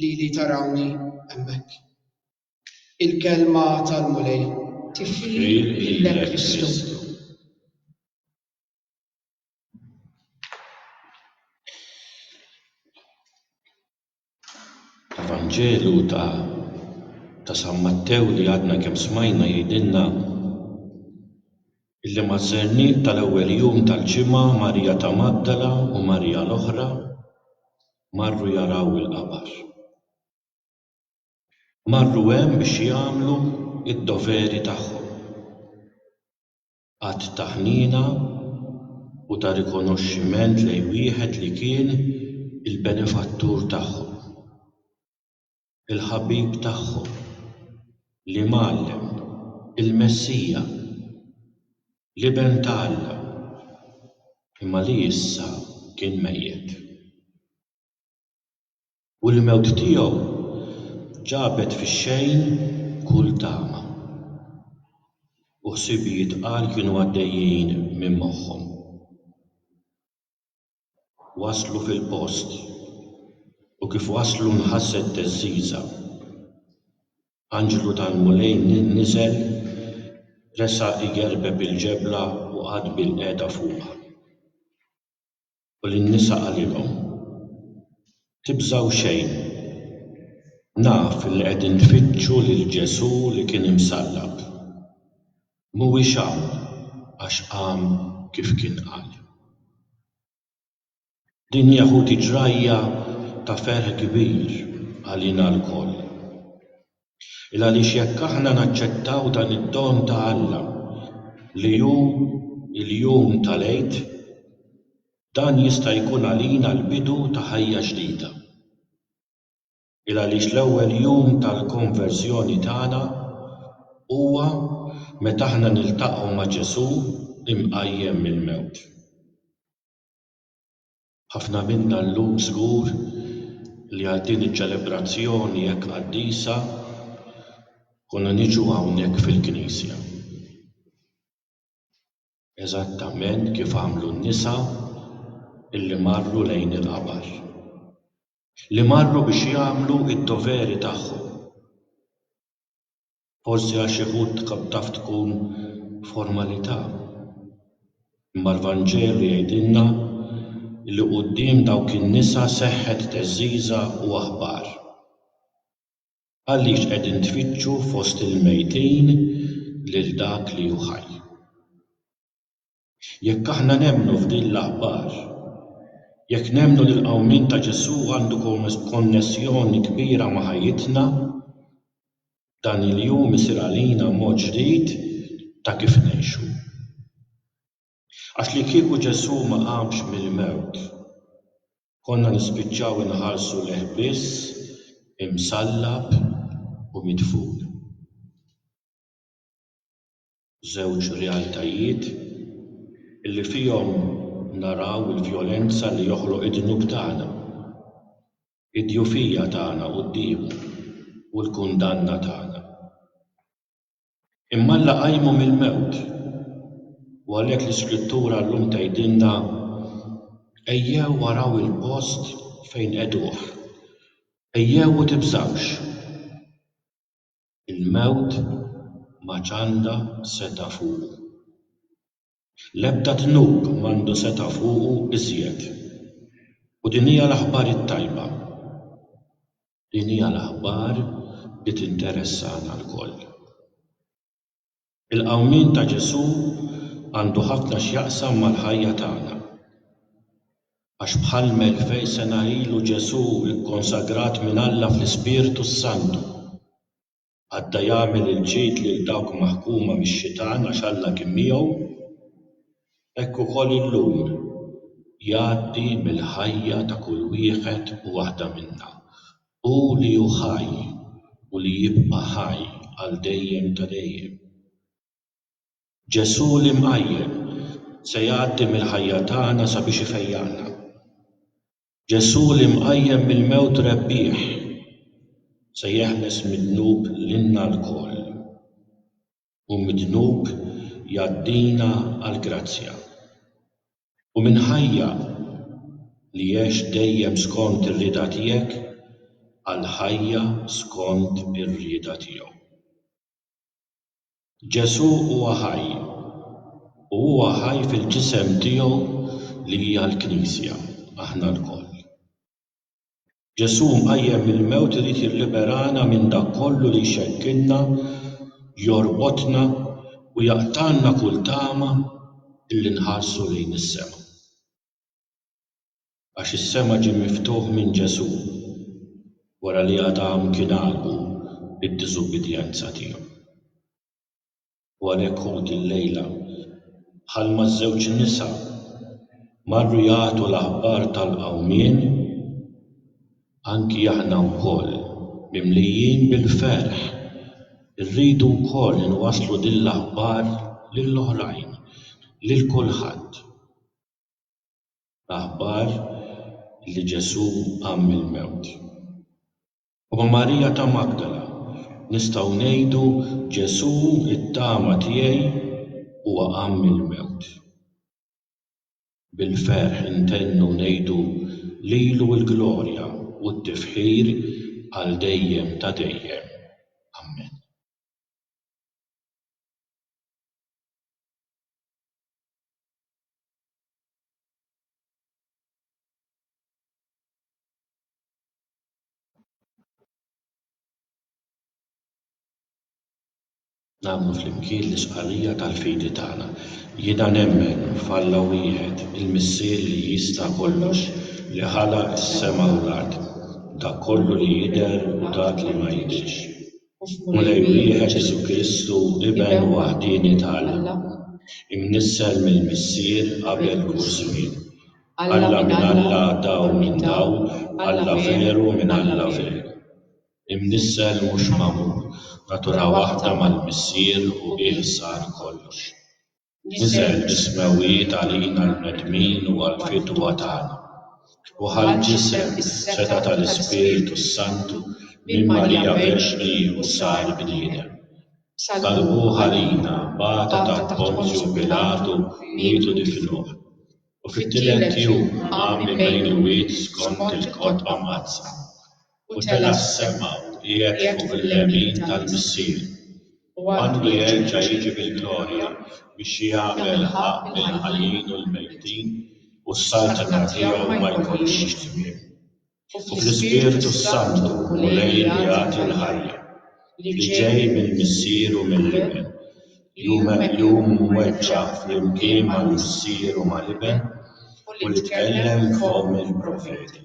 lili tarawni hemmhekk. Il-Kelma tal-Mulej. Tifħir lilek Kristu. L-Evanġelu ta' San Mattew li għadna kemm smajna jgħidilna li maż-żerniq tal-ewwel jum tal-ġimgħa Marija ta' Magdala u Marija l-oħra marru jaraw il-qabar. Marru hemm biex jagħmlu d-doveri tagħhom. Att ta' ħniena u ta' rikonoxximent lejn wieħed li kien il-benefattur tagħhom, il-ħabib tagħhom, l-Imgħallem, il-Messija, l-Iben ta' Alla, imma li issa kien mejjet. U l-mewt tiegħu ġabet fix-xejn kull tama. U ħsibijiet tqal kienu għaddejjin minn moħħhom. Waslu fil-post, u kif waslu nħasset theżżiża. Anġlu tal-Mulej niżel, resa' igerbeb il-ġebla u qagħad bilqiegħda fuqha. U lin-nisa qalilhom, Tibżgħu xejn. Naf li qegħdin tfittxu lil Ġesù li kien imsallab. Mhuwiex hawn għax qam kif kien qal. Din hija ħuti ġrajja ta' ferħ kbir għalina lkoll. 'l għaliex jekk aħna naċċettaw dan id-don ta' Alla li hu l-jum tal-Għid, dan jista' jkun għalina l-bidu ta' ħajja ġdida. 'l għaliex l-ewwel jum tal-konverżjoni tagħna huwa meta aħna niltaqgħu ma' Ġesù mqajjem mill-mewt. Ħafna minna llum żgur li għal din iċ-ċelebrazzjoni hekk qaddisa konna niġu hawnhekk fil-knisja. Eżattament kif għamlu n-nisa illi marru lejn il-qabar. Li marru biex jagħmlu d-doveri tagħhom. Forsi għax xi wħud tkun taf tkun formalità. Imma l-Vanġelu jgħidilna li quddiem dawk in-nisa seħħet teżżiża u aħbar. Għaliex qegħdin tfittxu fost il-mejtin lil dak li hu ħaj? Jekk aħna nemmnu f'din l-aħbar, jekk nemmnu li l-qawmien ta' Ġesù għandu konnessjoni kbira ma' ħajjitna, dan il-jum isir għalina mod ġdid ta' kif ngħixu. Għax li kieku Ġesù ma qamx mill-mewt, konna nispiċċaw inħarsu lejh biss imsallab u midfun. Żewġ realtajiet li fihom naraw il-vjolenza li joħloq id-dnub tagħna, id-djufija tagħna quddiemu u l-kundanna tagħna. Imma Alla qajmu mill-mewt u għalhekk l-Iskrittura llum tgħidilna, Ejjew araw il-post fejn qegħduh. Ejjew u tibżgħux. Il-mewt m'għadx għandha setgħa fuqu. L-ebda dnub m'għandu setgħa fuqu iżjed. U din hija l-aħbar it-tajba. Din hija l-aħbar li tinteressana lkoll. Il-qawmien ta' Ġesù għandu ħafna x'jaqsam mal-ħajja tagħna. Għax bħal m'elfej sena ilu Ġesù kkonsagrat minn Alla fl-Ispirtu s-Santu, għadda jagħmel il-ġid lil dawk maħkuma mix-xitan għax Alla kien miegħu, hekk ukoll illum jgħaddi mill-ħajja ta' kull wieħed u waħda minna Hu li hu ħaj u li jibqa' ħaj għal dejjem ta' dejjem. Ġesù l-imqajjem se jgħaddi mill-ħajja tagħna sabiex ifejjaqna. Ġesù l-imqajjem mill-mewt rebbieħ se jeħles mid-dnub lilna lkoll. U mid-dnub jgħaddina għall-grazzja. u minn ħajja li għext dejjem skont ir-rieda tiegħek għal ħajja skont ir-rieda tiegħu. Ġesù huwa ħaj, u huwa ħaj fil-ġisem tiegħu li hija l-Knisja, aħna lkoll. Ġesù mqajjem mill-mewt irid jilliberana minn dak kollu li jxekkilna, jorbotna u jaqtgħalna kull tama illi nħarsu lejn is-sema. Għax is-sema ġie miftuħ minn Ġesù wara li Adam kien għalqu bid-diżubbidjenza tiegħu. U għalhekk hu dil-lejla, bħal maż-żewġ nisa, marru jagħtu l-aħbar tal-qawmien, anki aħna wkoll, mimlijin bil-ferħ, irridu wkoll inwasslu din l-aħbar lil oħrajn, lil kulħadd, l-aħbar li Ġesù qam mill-mewt. U Marija ta' Magdala, nistgħu ngħidu Ġesù t-tama tiegħi huwa qam mill-mewt. Bil-ferħ intennu ngħidu lilu l-glorja u t-tifħir għal dejjem ta' dejjem. Amen. Nagħmlu flimkien l-istqarrija tal-fidi tagħna. Jiena nemmen f'Alla wieħed, il-Missier li jista' kollox, li ħalaq is-sema u l-art, dak kollu li jidher u dak li ma jidhirx. Mulej wieħed Ġesù Kristu, Iben waħdieni t'Alla, imnissel mill-Missier qabel kull żmien. Alla minn Alla, Dawl minn Dawl, Alla veru minn Alla veru. Imnissel mhux magħmul, natura waħda mal-Missier u bih sar kollox. Niżel is-smewwijiet għalina għall-bnedmin u għall-fidwa tagħna, u ħall ġisem is-setgħa tal-Ispirtu s-Santu minn Marija Verġni u sar bniedem. Salvuh għalina bata taħt Ponzju Pilatu miet u difnuh, u fit-tielet jum qam minn bejn il-mwiet skont il-kotba mqaddsa. u tela' s-semgħa u qiegħed fuq il-lemin tal-Missier, u għandu jerġa' jiġi bil-glorja biex jagħmel ħaqq lill-ħajjin u l-mejtin, u s-saltna tiegħu ma jkollhiex tmiem. U fl-Ispirtu s-Santu l-Mulej li jagħti l-ħajja, li ġej mill-Missier u mill-Iben, jum jum imweġġa' flimkien mal-Missier u mal-Iben, u li tkellem b'fomm il-profeti,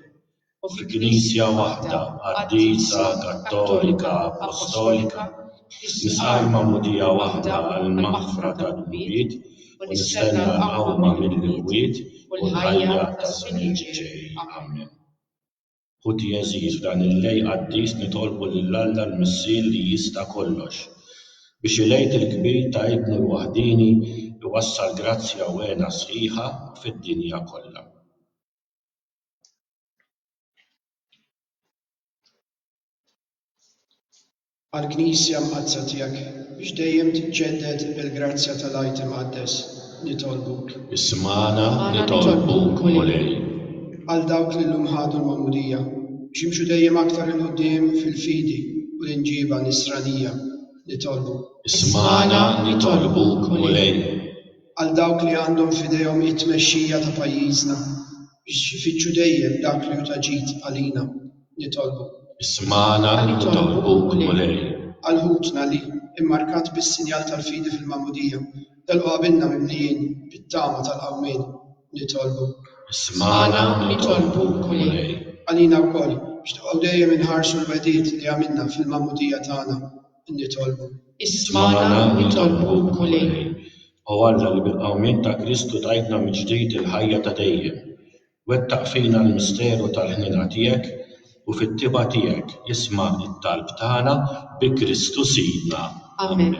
u fi Knisja waħda qaddisa Kattolika Appostolika, nisqal magħmudija waħda għall-maħfra tad-dnubiet u nistenna l-qawma mill-imwiet u l-ħajja taż-żmien li ġej. Amen. Ħuti għeżież, f'dan il-Lejl qaddis nitolbu lil Alla l-Missier li jista' kollox, biex il-Għid il-kbir ta' Ibnu l-waħdieni jwassal grazzja u hena sħiħa fid-dinja kollha. Għall-Knisja Mqaddsa Tiegħek, biex dejjem tiġġedded bil-grazzja tal-Għid Imqaddes, nitolbuk. Ismagħna, nitolbuk, Mulej. Għal dawk li llum ħadu l-Magħmudija, biex jimxu dejjem aktar 'il quddiem fil-fidi u l-imġiba Nisranija, nitolbuk. Ismagħna, nitolbuk, Mulej. għal dawk li għandhom f'idejhom it-tmexxija ta' pajjiżna biex ifittxu dejjem dak li hu ta' ġid għalina. Nitolbu. Ismagħna li nitolbuk, Mulej. Għal ħutna li, immarkat bis-sinjal tal-fidi fil-Magħmudija, telqu qabilna mimlijin bit-tama tal-qawmien. Nitolbu. Ismagħna li nitolbuk, Mulej. Għalina wkoll, biex nibqgħu dejjem inħarsu l-wegħdiet li għamilna fil-Magħmudija tagħna. nitolbu. Ismagħna nitolbuk, Mulej. O Alla li bil-qawmien ta' Kristu tajtna mill-ġdid il-ħajja ta' dejjem, wettaq fina l-misteru tal-ħniena tiegħek u fit-tibgħa tiegħek isma' t-talb tagħna bi Kristu Sidna. Amen.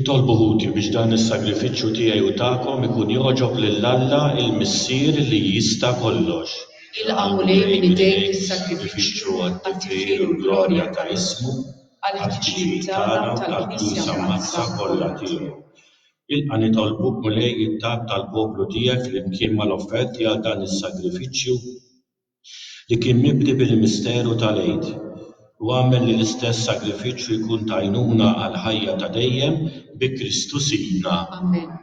Itolbu ħuti biex dan is-sagrifiċċju tiegħi u tagħkom ikun jogħġob lil Alla, il-Missier li jista' kollox. Ilqagħu lejn minn idejn is-sagrifiċċju għat-tifħir u l-glorja ta' ismu. għall-ħtiġijiet tagħna u tal-Knisja Mqaddsa kollha tiegħu. Ilqa' nitolbuk, Mulej, it-talb tal-poplu tiegħek flimkien mal-offerti għal dan is-sagrifiċċju li kien mibni bil-misteru tal-Għid, u agħmel li l-istess sagrifiċċju jkun t'għajnuna għall-ħajja ta' dejjem bi Kristu Sidna. Amen.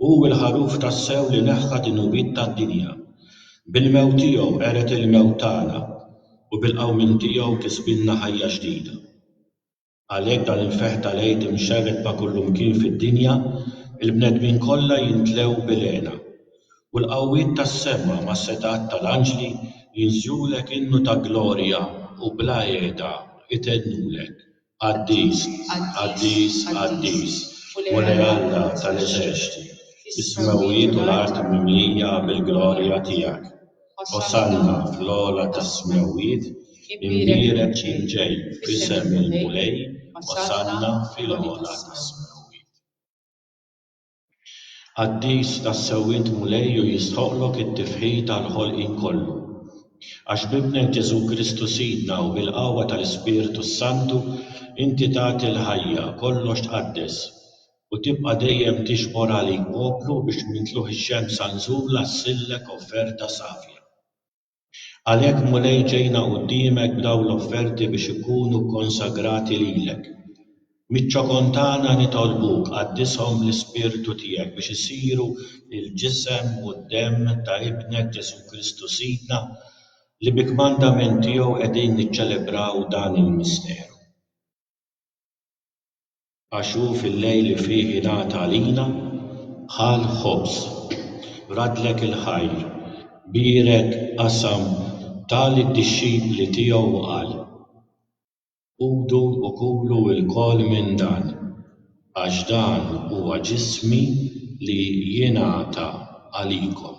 Hu l-Ħaruf tassew li neħħa d-dnubiet tad-dinja. Bil-mewt tiegħu qered il-mewt tagħna u bil-qawmien tiegħu kisbilna ħajja ġdida. Għalhekk dan il-ferħ tal-Għid imxerred ma' kullimkien fid-dinja, il-bnedmin kollha jimtlew bil-hena. U l-qawwiet tas-sema mas-setgħat tal-anġli jinżlulek innu ta' glorja u bla heda jtennulek. Qaddis, qaddis, qaddis, Mulej Alla ta' l-eżerċti, is-smewwiet u l-art mimlija bil-glorja tiegħek. Osanna fl-ogħla tas-smewwiet, imbierek li ġej f'isem il-Mulej, osanna fil-ogħla tas-smewwiet. Qaddis, tassew int Mulej u jistħoqqlok it-tifħir tal-ħolqien kollu. Għax b'Ibnek Ġesù Kristu Sidna u bil-qawwa tal-Ispirtu s-Santu inti tagħti l-ħajja, kollox tqaddes, u tibqa' dejjem tiġbor għalik poplu biex minn tluħ ix-xemsa nżula ssillek offerta safja. Għalhekk, Mulej, ġejna quddiemek b'dawn l-offerti biex ikunu kkonsagrati lilek. Miċ-ċokon tagħna nitolbuk, qaddishom bl-Ispirtu tiegħek biex isiru l-ġisem u d-demm ta' Ibnek Ġesù Kristu Sidna, li bi kmandament tiegħu qegħdin niċċelebraw dan il-misteru. Għax hu fil-lejl li fih ingħata għalina, ħa l-ħobż, radlek il-ħajr, bierek, qasam, ta lid-dixxipli tiegħu u qal, Ħudu u kulu lkoll minn dan, għax dan huwa ġismi li jingħata għalikom.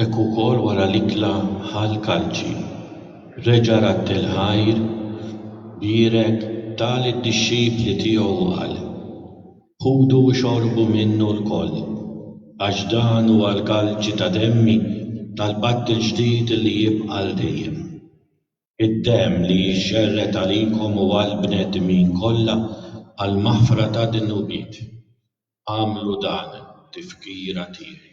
Hekk ukoll wara l-ikla ħa l-kalċi. Reġa' radd il-ħajr, bierek, ta lid-dixxipli tiegħu u qal, Ħudu u xorbu minnu lkoll, għax dan huwa l-kalċi ta' demmi tal-patt il-ġdid li jibqa' għal dejjem. Id-demm li jixxerred għalikom u għall-bnedmin kollha għall-maħfra tad-dnubiet. Agħmlu dan f'tifkira tiegħi.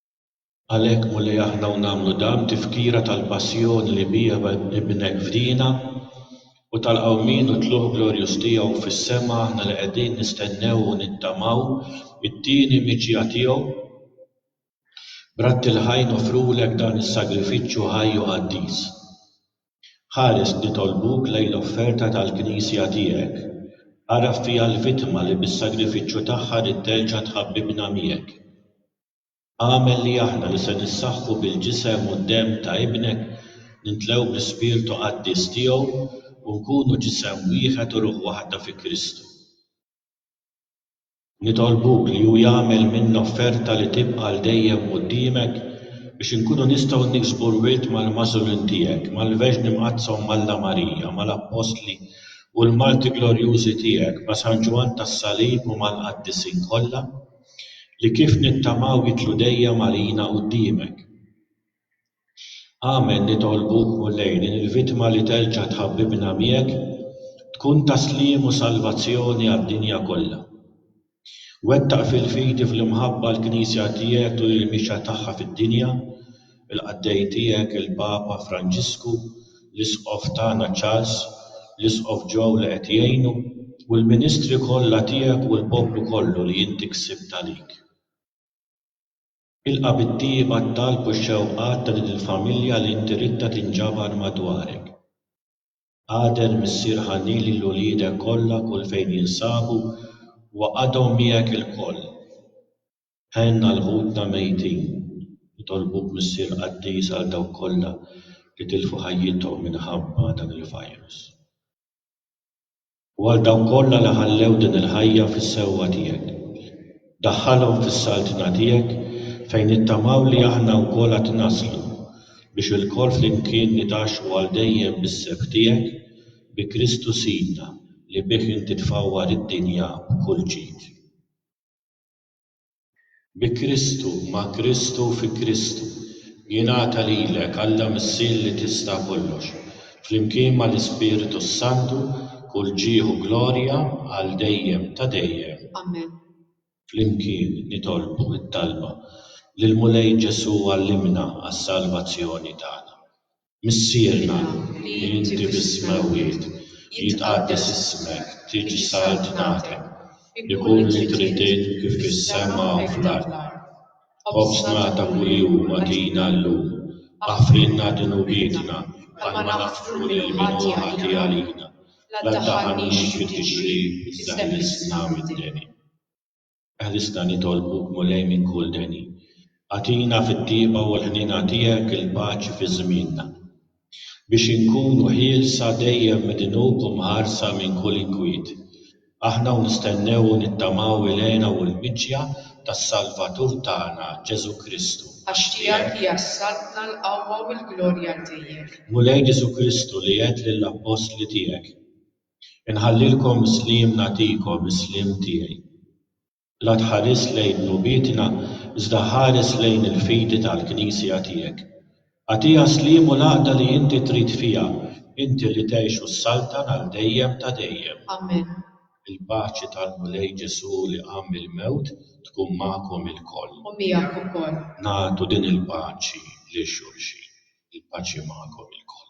Għalhekk, Mulej, aħna u nagħmlu dan tifkira tal-passjoni li biha Ibnek fdina, u tal-qawmien u t-tlugħ glorjuż tiegħu fis-sema, aħna li qegħdin nistennew u nittamaw it-tieni miġja tiegħu. B'ratti l-ħaj noffrulek dan is-sagrifiċċju ħaj u qaddis. Ħares, nitolbuk, lejn l-offerta tal-Knisja tiegħek. Agħraf fiha l-vittma li bis-sagrifiċċju tagħha rid terġa' tħabbibna miegħek. Agħmel li aħna li se nissaħħu bil-Ġisem u d-Demm ta' Ibnek, nimtlew bl-Ispirtu Qaddis Tiegħu, u nkunu Ġisem wieħed u Ruħ waħda fi Kristu. Nitolbuk li Hu jagħmel minna offerta li tibqa' għal dejjem quddiemek, biex inkunu nistgħu niksbu r-wirt mal-magħżulin Tiegħek, mal-Verġni Mqaddsa u m'Alla Marija, mal-Appostli u l-Marti glorjużi Tiegħek, ma' San Ġwann tas-Salib u mal-Qaddisin kollha. li kif nittamaw jidħlu dejjem għalina quddiemek. Amen nitolbuk Mulej li l-vittma li terġa' tħabbibna miegħek tkun ta' sliem u salvazzjoni għad-dinja kollha. Wettaq fil-fidi fl-imħabba l-Knisja tiegħek tul il-mixja tagħha fid-dinja il-qaddej tiegħek il-Papa Franġisku, l-Isqof tagħna Charles, l-Isqof Joe li qed jgħinu, u l-ministri kollha tiegħek u l-poplu kollu li inti ksibt għalik. Ilqa' bit-tiehi bgħat-talb u x-xewqat ta' din il-familja li inti ridtha tinġabar madwarek. Qader Missier ħanin lil uliedek kollha kull fejn jinsabu u għaqadhom miegħek ilkoll. Għenna 'l ħutna mejtin. Nitolbuk Missier Qaddis għal dawk kollha li tilfu ħajjithom minħabba dan il-virus. U għal dawk kollha li ħallew din il-ħajja fis-sewwa tiegħek. Daħħalhom fis-Saltna tiegħek fejn nittamaw li aħna wkoll għad naslu biex ilkoll flimkien nitgħaxxu għal dejjem bis-sebħ tiegħek bi Kristu Sidna li bih inti tfawwar id-dinja b'kull ġid. Bi Kristu, ma' Kristu u fi Kristu, jingħata lilek, Alla Missier li tista' kollox, flimkien mal-Ispirtu s-Santu, kull ġieħ u glorja għal dejjem ta' dejjem. Amen. Flimkien nitolbu t-talba, Lill-Mulej Ġesù għallimna għas-salvazzjoni tagħna. Missierna li inti bis-smewwiet, jitqaddes ismek, tiġi saltnatek, ikun li trid int kif fis-sema u fl-art. Ħobżna ta' kuljum agħtina llum. Aħfrilna dnubietna bħalma naħfru lil min hu ħati għalina. La ddaħħalniex fit-tixrib iżda ħlisna mid-deni. Ħrisna nitolbuk Mulej minn kull deni. Agħtina fit-tieqa u l-ħniena tiegħek il-paċi fi żmienna. Biex inkunu ħielsa dejjem mid-dnub u mħarsa minn kull inkwiet. Aħna u nistennew u nittamaw il-hena u l-miġja tas-Salvatur tagħna, Ġesù Kristu. Għax tiegħek hija s-saltna, l-qawwa u l-glorja għal dejjem. Mulej Ġesù Kristu li għedt lill-appostli tiegħek. Inħallilkom is-sliem nagħtikom is-sliem tiegħi. La tħares lejn dnubietna iżda ħares lejn il-fidi tal-Knisja tiegħek. Agħtiha s-sliem u l-għaqda li inti trid fiha, inti li tgħix u ssaltan għal dejjem ta' dejjem. Amen. Il-paċi tal-Mulej Ġesù li qam mill-mewt tkun magħkom ilkoll. U miegħek ukoll. Nagħtu din il-paċi lil xulxin. Il-paċi magħkom ilkoll.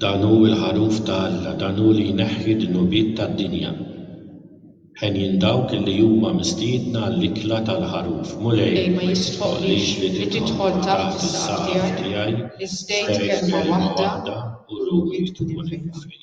Dan hu l-Ħaruf ta' Alla, dan hu li jneħħi d-dnubiet tad-dinja. Henjin dawk li huma mistiedna għall-ikla tal-Ħaruf. Mulej, ma jistħoqqlix li tidħol taħt is-saqaf tiegħi, iżda għid kelma waħda u ruħi tkun imgħafija.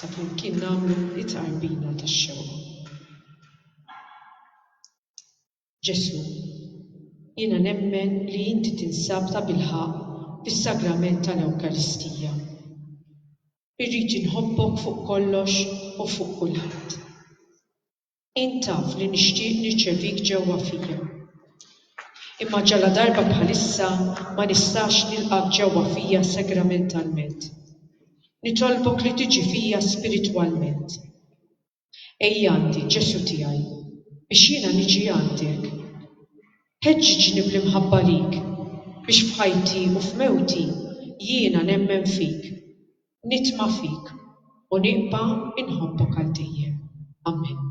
sa flimkien nagħmlu t-tqarbina tax-xewqa. Ġesù, jiena nemmen li inti tinsab tabilħaqq fis-sagrament tal-Ewkaristija. Irrid inħobbok fuq kollox u fuq kulħadd. Int taf li nixtieq nirċevik ġewwa fija. Imma ġaladarba bħalissa ma nistax nilqgħek ġewwa fija sagramentalment. Nitolbok li tiġi fija spiritwalment. Ejja għandi, Ġesù tiegħi, biex jiena niġi għandek. Ħeġġiġni bl-imħabba lik biex f'ħajti u f'mewti jiena nemmen fik. nitma' fik u nibqa' inħobbok għal dejjem. Amen.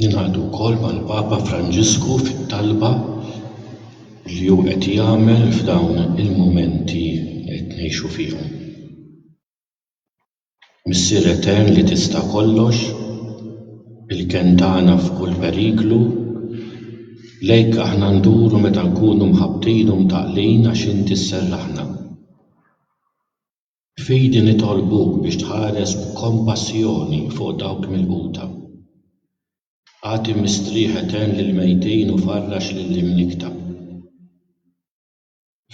Ningħaqdu wkoll mal-Papa Franġisku fit-talba li hu qed jagħmel f'dawn il-mumenti li qed ngħixu fihom. Missier Etern li tista' kollox, il-kenn tagħna f'kull periklu, lejk aħna nduru meta nkunu mħabbtin u mtaqqlin għax inti sserraħna. F'idi nitolbuk biex tħares b'kompassjoni fuq dawk milquta. Agħti mistrieħ etern lill-mejtin u farrax lill-imnikkta.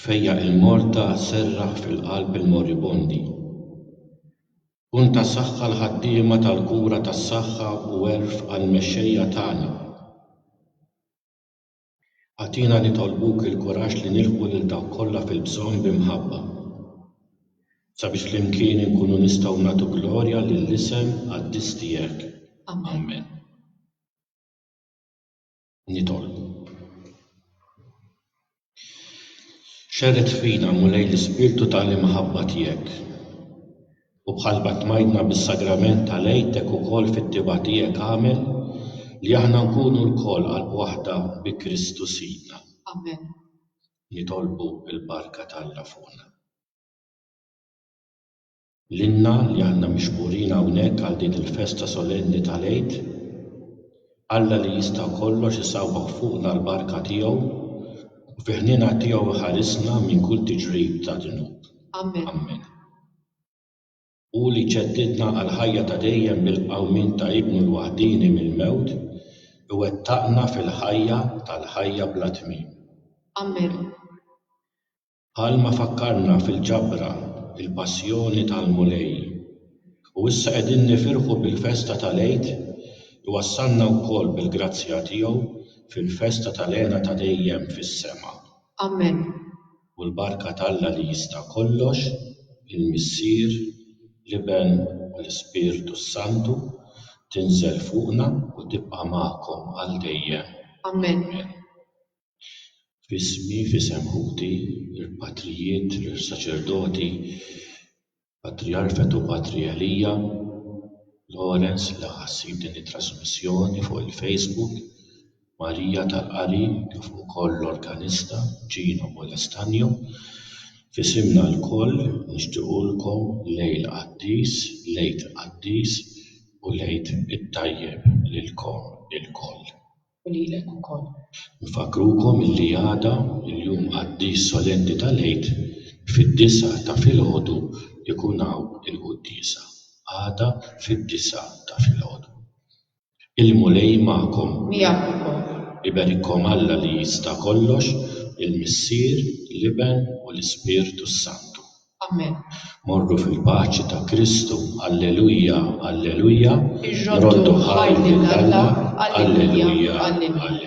Fejjaq il-morta, serraħ fil-qalb il-moribondi. Kun ta' saħħa l-ħaddiema tal-kura tas-saħħa u għerf għall-mexxejja tagħna. Agħtina nitolbuk il-kuraġġ li nilħqu lil dawk kollha fil-bżonn bi mħabba, sabiex flimkien inkunu nistgħu nagħtu glorja lill-isem qaddis tiegħek. Amen. Nitolbu. Xerred fina, Mulej, l-ispirtu ta' l-imħabba tiegħek. U bħal ma tmajtna bis-sagrament tal-Għid hekk ukoll fit-tibgħa tiegħek agħmel li aħna nkunu lkoll qalb waħda bi Kristu Sidna. Amen. Nitolbu l-barka t'Alla fuqna. Lilna li aħna mixqurin hawnhekk għal din il-festa solenni tal-Għid, Alla li jista' kollox isawwagħ fuqna l-barka tiegħu u fi ħniena tiegħu iħarisna minn kull tiġrib ta' dnub. Amen. Amen. Hu li ġeddidna għall-ħajja ta' dejjem bil-qawmien ta' Ibnu l-waħdieni mill-mewt, iwettaqna fil-ħajja tal-ħajja bla tmiem. Amen. Bħalma fakkarna fil-ġabra il-passjoni tal-Mulej u issa qegħdin nifirħu bil-festa tal-Għid, iwassalna wkoll bil-grazzja tiegħu fil-festa tal-hena ta' dejjem fis-sema. Amen. u l-barka t'Alla li jista' kollox, il-Missier, l-Iben u l-Ispirtu s-Santu, tinżel fuqna u tibqa' magħkom għal dejjem. Amen. F'ismi, f'isem ħuti, l-patrijiet, l-saċerdoti, Patrijark Fetu Patri Elia Lawrence li ħa ssib din it-trasmissjoni fuq il-Facebook, Marija tal-Qari kif ukoll l-organista Gino Molestagno. F'isimna lkoll nixtiequlkom lejl qaddis, l-Għid Qaddis u l-Għid it-Tajjeb lilkom ilkoll. U lilek ukoll. Infakkrukom illi għada, il-jum qaddis solenni tal-Għid, fid-disgħa ta' filgħodu jkun hawn il-quddiesa. Għada fid-disgħa ta' filgħodu. Il-Mulej magħkom. Miegħek ukoll. Iberikkom Alla li jista' kollox, il-Missier, l-Iben u l-Ispirtu s-Santu. Amen. Morru fil-paċi ta' Kristu, Alleluja, Alleluja, nroddu ħajr lil Alla, Alleluja, Alleluja.